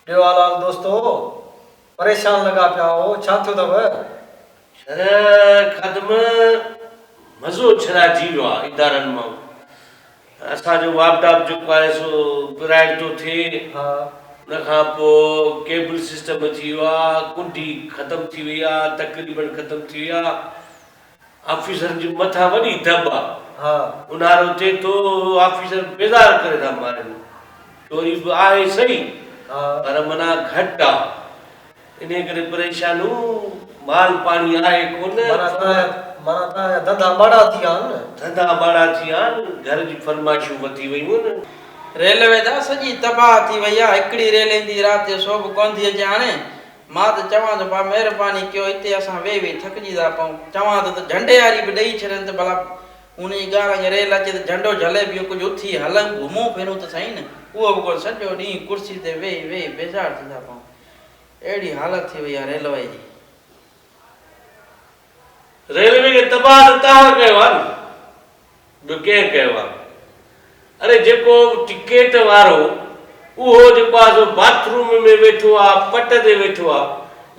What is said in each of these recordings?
ڏيو حلال دوستو! پريشان لڳا پيا آهو، ڇا ٿيو اٿئو؟ شرح خادم مزو ڇرائجي ويو آهي ادارن مان، اسان جو واپڊاپ جيڪو آهي سو پرائيڊ ٿو ٿئي، ان کان پوء ڪيبل سسٽم اچي ويو آهي، ڪنڊي ختم ٿي وئي آهي، تقريبن ختم ٿي وئي آهي، آفيسرن جي مٿان وڏي دٻ آ. اونهارو ٿئي ٿو آفيسر بيزار ڪري ٿا مارين. چوري به آهي سهي پر منا گهٽ آ. انهي ڪري پريشانون. مال پاڻي آهي ڪونه. منا توهان جا ڌنڌا ماڙا ٿي ويا آهن. ڌنڌا ماڙا ٿي ويا آهن. گهر جي فرمائشون وڌي ويون آهن. ريلوي ته سڄي تباهه ٿي وئي آ. هڪڙي ريل ايندي رات جو سو به ڪونه ٿي اچي هاڻي. مان ته چوان ٿو ڀا مهرباني ڪيو هتي اسان ويهي ويهي ٿڪجي ٿا پئون. چوان ٿو ته جهنڊي هاري به ڏئي ڇڏين ته ڀلا هن جي ڳالهه اڳي ريل اچي ته جهنڊو جهلي بيهون ڪجهه اٿي هلون گهمون ڦرون ته سهي نه اهو به ڪونه سڄو ڏينهن ڪرسي تي ويهي ويهي بيزار ٿي ٿا پئون اهڙي حالت ٿي وئي آهي ريلوي جي. ريلوي کي تباھ ته تهان ڪيو آ نه ٻيو ڪنهن ڪيو آ اري جيڪو ٽڪيٽ وارو اهو جيڪو آ سو باٿ روم ۾ ويٺو آ پٽ تي ويٺو آ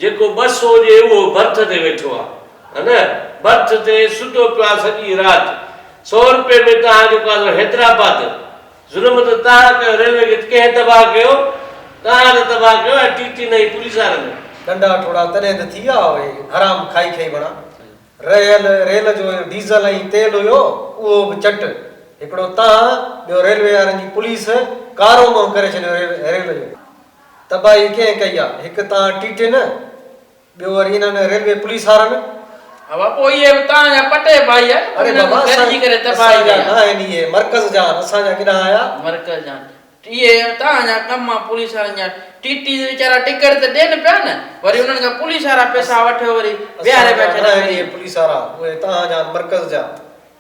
جيڪو ٻه سو ڏي اهو برٿ تي ويٺو آ ها نه برٿ تي ستو پيو آ سڄي رات سو روپئي ۾ تهان جيڪو آ سو حيدرآباد ظلم ته توهان ڪيو ريلوي کي ڪنهن تباهه ڪيو توهان ته تباهه ڪيو ۽ ٽي ٽي نه هي پوليس وارن جو. ڏنڊا ٺوڙها تڏهن ته ٿي ويا اهي حرام کائي کائي وڻا رهيل ريل جو ڊيزل ۽ تيل هيو اهو به چٽ هڪڙو توهان ٻيو ريلوي وارن جي پوليس ڪارو منهن ڪري ڇڏيو ريل جو تباهي ڪنهن ڪئي آ هڪ توهان ٽي ٽي نه ٻيو وري انهن ريلوي پوليس وارن. هوا پوء اهي به توهان جا پٽي ڀائي آهن پر انهن جي گڏ جي ڪري تباهي ڪئي آهي. اري بابا اسان جا ناهن اهي مرڪز جا آهن اسان جا ڪيڏانهن آيا. مرڪز جا آهن اهي توهان جا ڪم آهن پوليس وارن جا ٽي ٽي تي ويچارا ٽڪيٽ ته ڏين پيا نه وري انهن کان پوليس وارا پيسا وٺي وري ويهاري پيا ڇڏن وري. اسان جا ناهن اهي پوليس وارا اهي توهان جا آهن مرڪز جا.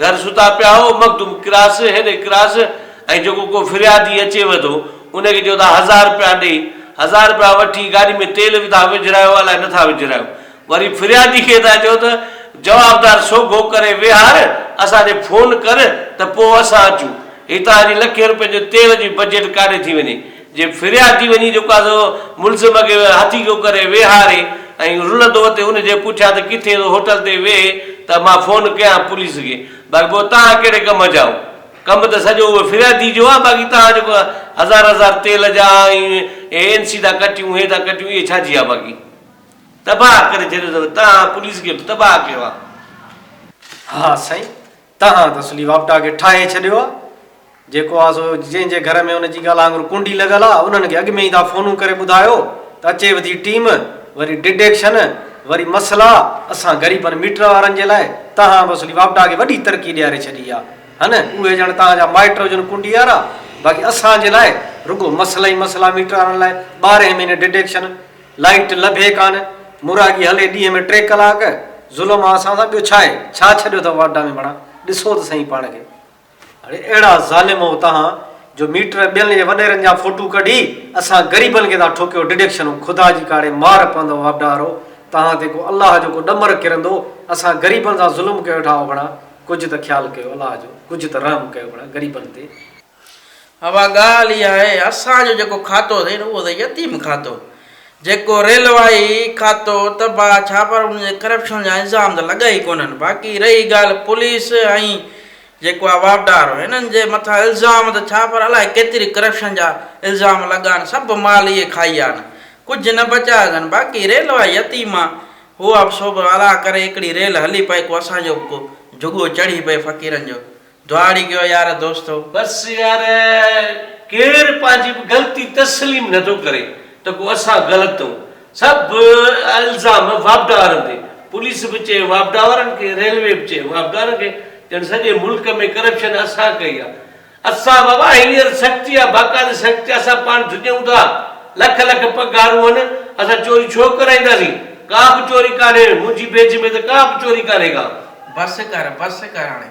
گهر ستا پيا هو، مخدوم ڪراس هيڏي ڪراس ۽ جيڪو ڪو فريادي اچي وڌو، ان کي چئو ٿا هزار رپيا ڏي، هزار رپيا وٺي گاڏي ۾ تيل وڌا وجهرايو الاء نٿا وجهرايو، وري فريادي کي ٿا چئو ته جوابدار سوگهو ڪري ويهار، اسان ڏي فون ڪر ته پوء اسان اچون، هتان جي لکين رپين جو تيل جي بجيٽ ڪاڏي ٿي وڃي. جي ڦريا ٿي وڃي جيڪو آهي سو ملزم کي هٿي ڪو ڪري ويهاري ۽ رلندو ته ان جي پڇان ته ڪٿي ٿو هوٽل تي ويهي ته مان فون ڪيان پوليس کي باقي پوء توهان ڪهڙي ڪم جا آهو ڪم ته سڄو اهو فريادي جو آهي باقي توهان جيڪو هزار هزار تيل جا ۽ اهي اين سي ٿا ڪٽيون اهي ٿا ڪٽيون اهي ڇا جي آهي باقي تباهه ڪري ڇڏيو اٿو توهان پوليس کي به تباهه ڪيو آهي. ها سائين تنهن ته سلي واپٽا کي ٺاهي ڇڏيو آ. جيڪو آ سو جنهن جي گهر ۾ ان جي ڳالهه آڱر ڪنڊي لڳل آ انهن کي اڳ ۾ ئي ٿا فونون ڪري ٻڌايو ته اچي وڌي ٽيم وري ڊڊيڪشن وري مسئلا اسان غريبن ميٽر وارن جي لاء تنهن به سلي واپٽا کي وڏي ترقي ڏياري ڇڏي آ هن اهي ڄڻ تنهن جا مائٽ هجن ڪنڊي وارا باقي اسان جي لاء رڳو مسئلا ئي مسئلا ميٽر وارن لاء ٻارهين مهيني ڊڊيڪشن لائيٽ لڀي ڪانه، مراڳي هلي ڏينهن ۾ ٽي ڪلاڪ، ظلم آ اسان سان، ٻيو ڇاهي، ڇا ڇڏيو اٿئو واٽ ڊامي بڻا، ڏسو ته سهين پاڻ کي. اڙي اهڙا ظالمؤ توهان جو ميٽر ٻين جي وڏيرن جا فوٽو ڪڍي اسان غريبن کي ٿا ٺوڪيو ڊڊڪشنون خدا جي ڪاڙي مار پوندؤ واٽدارو توهان تي ڪو الله جو ڪو ڏمر ڪرندو اسان غريبن سان ظلم ڪيو ويٺا آهيو ڀڻا ڪجهه ته خيال ڪيو الله جو ڪجهه ته رحم ڪيو ڀڻا غريبن تي. اها ڳالهه ئي آهي اسان جو جيڪو کاتو اٿئي نه اهو اٿئي يتيم کاتو جيڪو ريلوائي کاتو تبا ڇا پر ان جي ڪرپشن جا الزام ته لڳا ئي ڪونهن باقي رهي ڳالهه پوليس ۽ جيڪو آهي واپڊار هنن جي مٿان الزام ته ڇا پر الائي ڪيتري ڪرپشن جا الزام لڳا آهن سڀ مال اهي کائي ويا آهن ڪجهه نه بچايو اٿن باقي ريلوائي يتيم آهي اها به سو به الاء ڪري هڪڙي ريل هلي پئي ڪو اسان جو به ڪو جهڳو چڙهي پئي فقيرن جو. دهاڙي ڳيو يار دوستو. بس يار ڪير پنهنجي غلطي تسليم نه ٿو ڪري ته ڪو اسان غلط ٿئون سڀ الزام واپڊا وارن تي پوليس به چئي واپڊا وارن کي ريلوي به چئي واپڊا وارن کي ڄڻ سڄي ملڪ ۾ ڪرپشن اسان ڪئي آ اسان بابا هينئر سختي آ باقاعدي سختي آ اسان پاڻ ڊڄون ٿا لک لک پگهارون هن اسان چوري ڇو ڪرائينداسين ڪا به چوري ڪانهي منهنجي بيج ۾ ته ڪا به چوري ڪانهي ڪا. بس ڪر بس ڪر هاڻي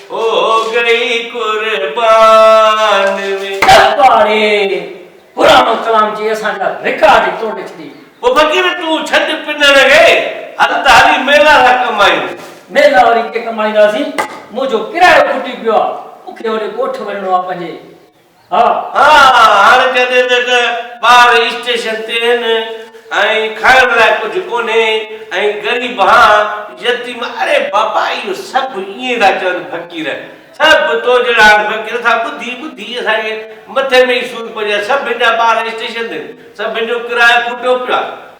هو گئي قربان وي. درٻاري پراڻو ڪلام چئي اسان جا رڪارڊ ئي ٽوڙي ڇڏي. پوء فقير تون ڇڏ پنڻ ري هل ته هلي ميلا لا ڪمائيون. ميلا وري ڪي ڪمائينداسين منهنجو ڪرايو کٽي پيو آ مون کي هوڏي ڳوٺ وڃڻو آ پنهنجي. ها هاڻ ڪنهن تي ته ٻار اسٽيشن تي هين ۽ کائڻ لاء ڪجهه ڪونهي ۽ غريب ها يتيم اڙي بابا اهو سڀ ائين ٿا چون فقير سڀ تو جهڙا آهن فقير سا ٻڌي ٻڌي اسان کي مٿي ۾ ئي سور پئجي سڀن جا ٻار اسٽيشن تي سڀن جو ڪرايو ڦٽو پيو آهي.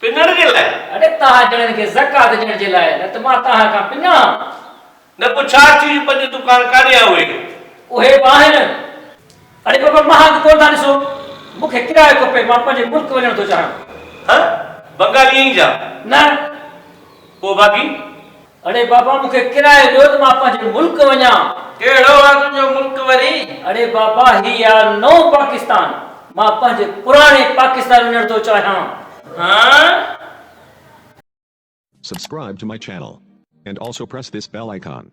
پنڻ جي لاء. اڙي توهان جهڙن کي زڪوات ڏيڻ جي لاء نه ته مان توهان کان پڃان. نه پوء ڇا ٿيو جي پنج دڪان ڪاڏي آ اهي. اهي به آهن. اڙي بابا مان هنڌ ڪونه ٿا ڏسو مون کي ڪرايو کپي مان پنهنجي ملڪ وڃڻ ٿو چاهيان. هه بنگالي ائين جا. نه. پوء باقي. اڙي بابا مون کي ڪرايو ڏيو ته مان پنهنجي ملڪ وڃان. ڪهڙو آ تنهنجو ملڪ وري؟ اڙي بابا هي آ نئون پاڪستان. مان پنهنجي پراڻي پاڪستان وڃڻ ٿو چاهيان. هان. Subscribe to my channel and also press this bell icon.